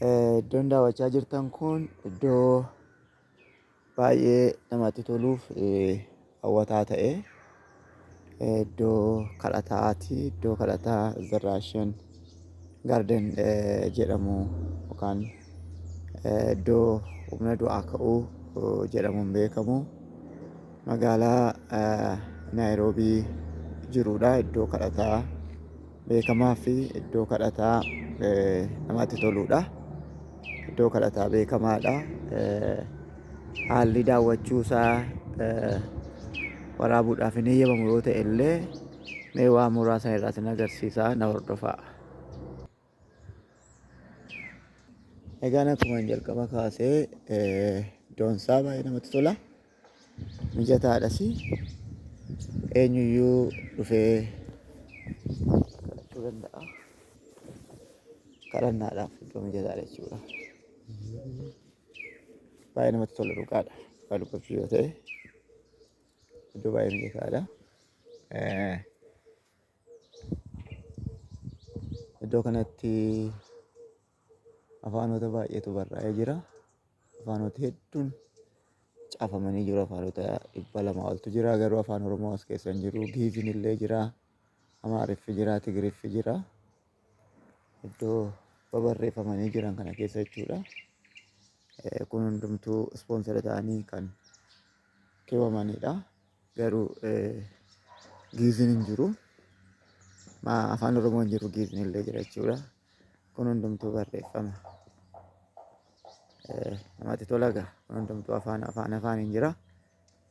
Iddoon daawwachaa jirtan kun iddoo baay'ee namatti toluuf hawwataa ta'e iddoo kadhataati. Iddoo kadhataa Zarraashan Gaarden jedhamu yookaan iddoo humna du'aa ka'uu jedhamuun beekamu magaalaa Naayiroobii jirudha. Iddoo kadhataa. beekamaa fi iddoo kadhataa namatti toluudha. Iddoo kadhataa beekamaadha. Haalli daawwachuu isaa waraabuudhaaf hin eeyyamamu yoo ta'e illee mee waa muraasa irraa sin agarsiisaa na hordofaa. Egaan akkuma jalqaba kaasee iddoon isaa baay'ee namatti tola. mijataadhas eenyuyyuu dhufee kadhachuu danda'a. Kadhannaadhaaf iddoo mijataadha jechuudha. Baay'ee namatti tola dhugaadha. Dhugaa dubbachuu yoo ta'e iddoo baay'ee mijataadha. Eh, Iddoo kanatti afaanota baay'eetu barraa'ee jira. Afaanoti hedduun caafamanii jiru. Afaanota dhibba lama oltu jira. Garuu afaan Oromoo as keessa hin jiru. Giiziin illee jira. Amaariffi jira. Tigiriffi jira. Iddoo babarreeffamanii jiran kana keessa jechuudha. Eh, Kun hundumtuu ispoonsera ta'anii kan keewwamanidha. Garuu eh, giiziin hin jiru. Ma- Afaan Oromoo hin jiru. Giiziin illee jira jechuudha. kun hundumtuu barreeffama Eh, namatti tola gaa kun hundumtuu afaan afaan afaan hin jira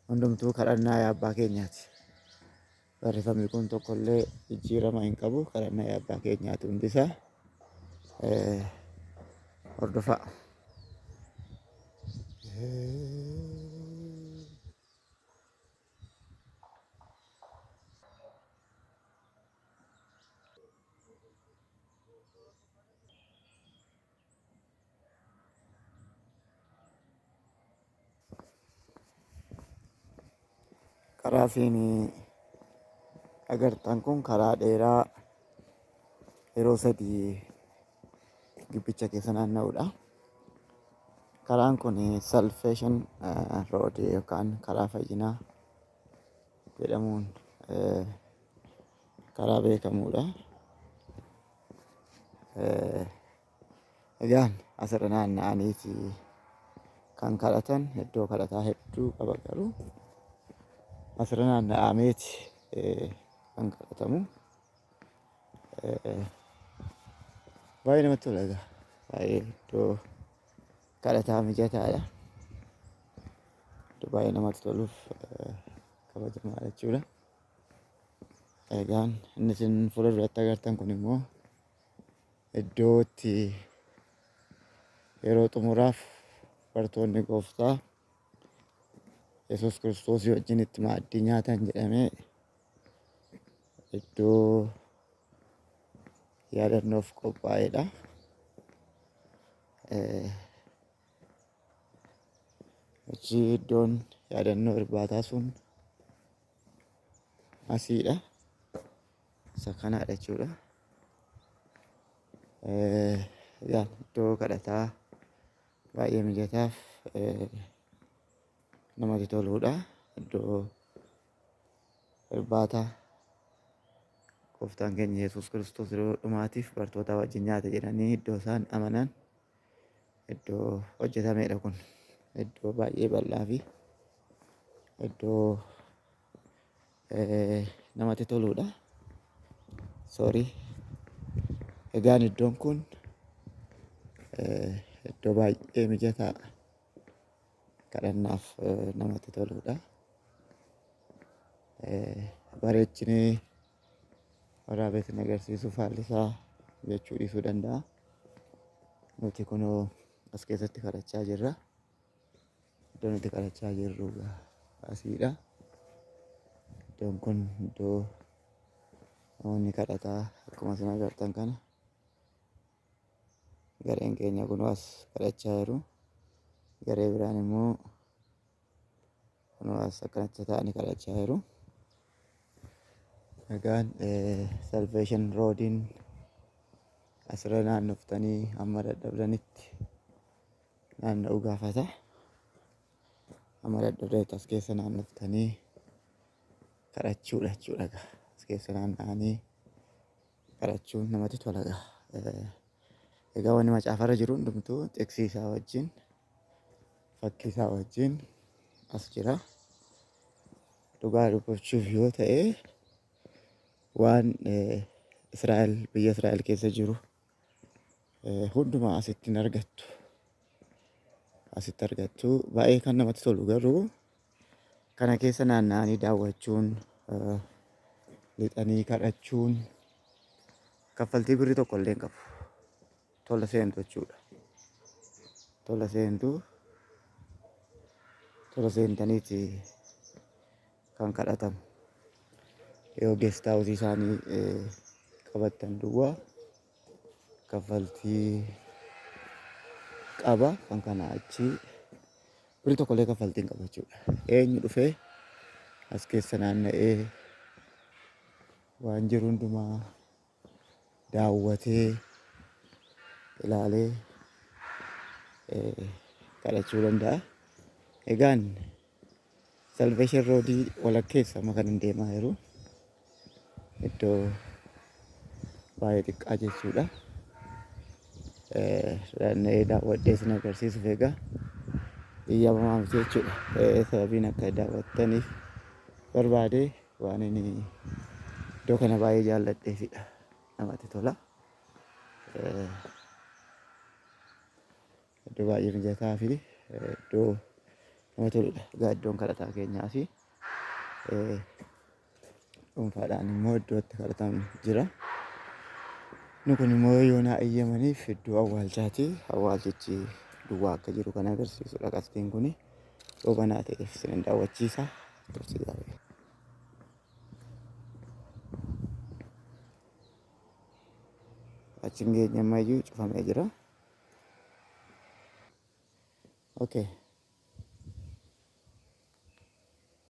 hundumtuu kadhannaa yaa abbaa keenyaati barreeffamni kun tokkollee jijjiirama hin qabu kadhannaa yaa abbaa keenyaati hundisaa Eh, hordofaa karaa siin agartan kun karaa dheeraa yeroo sadii gibbicha keessa naanna'udha. Karaan kun salfeeshin rood yookaan karaa fayyinaa jedhamuun karaa beekamudha. Egaan asirra naanna'aniiti kan kadhatan iddoo kadhataa hedduu qaba garuu asirra naanna'ameeti kan kadhatamu. Baay'ee namatti tola egaa. Baay'ee iddoo kadhataa mijataadha. Iddoo baay'ee namatti toluuf eh, kabajamaadha jechuudha. Egaan inni isin fuula duratti agartan kun immoo iddoo itti yeroo xumuraaf bartoonni gooftaa Yesuus Kiristoosii wajjin itti maaddii nyaatan jedhamee Iddoo yaadannoof qophaa'edha. Achi iddoon yaadannoo irbaataa sun asiidha. Isa kanaadha jechuudha. Egaa iddoo kadhataa baay'ee mijataaf namatti toludha. Iddoo Irbaata gooftaan keenya Yesuus Kiristoos yeroo dhumaatiif bartootaa wajjin nyaate jedhanii iddoo isaan amanan iddoo hojjetamedha kun. Iddoo baay'ee bal'aa fi iddoo eh, namatti toludha. Sorry. Egaan iddoon kun eh, iddoo baay'ee mijataa kadhannaaf namatti toludha. Bareechinee waraabessin agarsiisuuf haalli isaa jechuu dhiisuu danda'a. Nuti kunoo as keessatti kadhachaa jirra. Iddoo nuti kadhachaa jirru asiidha. Iddoon kun iddoo namoonni kadhataa akkuma isin agartan kana gareen keenya kunoo as kadhachaa jiru garee biraan immoo kunoo as akkanatti ta'anii kadhachaa jiru egaan salveeshin roodiin asirra naannoftanii amma dadhabdanitti naanna'uu gaafata amma dadhabdanitti as keessa naannoftanii kadhachuudha jechuudha egaa as keessa naanna'anii kadhachuun namatti tola gaa. Egaa wanni macaafarra jiru hundumtuu xiqsii isaa wajjin fakkii isaa wajjin as jira. Dhugaa dubbachuuf yoo ta'e waan Israa'el biyya Israa'el keessa jiru hundumaa asitti hin argattu. Asitti argattu baay'ee kan namatti tolu garuu Kana keessa naanna'anii daawwachuun, lixanii kadhachuun kaffaltii birri tokko illee hin qabu. Tola seentu jechuudha. Tola seentu tola seentaniiti kan kadhatamu. Yoo geestaa hojii isaanii qabattan duwwaa. kaffaltii qaba kan kana achi biri tokkollee kaffaltii hin qabu jechuudha. Eenyu dhufee as keessa naanna'ee waan jiru hundumaa daawwatee ilaalee kadhachuu danda'a. Egaan Salvation Road walakkeessa ma kanan deemaa jiru iddoo baay'ee xiqqaa jechuudha. Eh, Naanna'ee daawwadhee isin agarsiisuuf egaa eeyyamamaa miti jechuudha. Eh, Sababiin akka daawwattaniif barbaade waan inni iddoo kana baay'ee jaalladheefidha. Namatti tola. Eh, Iddoo baay'ee mijataa fi iddoo nama toludha. Egaa iddoon kadhataa keenyaa fi dhuunfaadhaan immoo iddoo itti kadhatamu jira. Inni kun immoo yoo naa eeyyamaniif iddoo awwaalchaati. Awwaalchichi duwwaa akka jiru kan agarsiisudha qabxiin kuni. Yoo banaa ta'eef isin daawwachiisa. Tursi gaarii. Achiin geenye ammayyuu cufamee jira. Okay.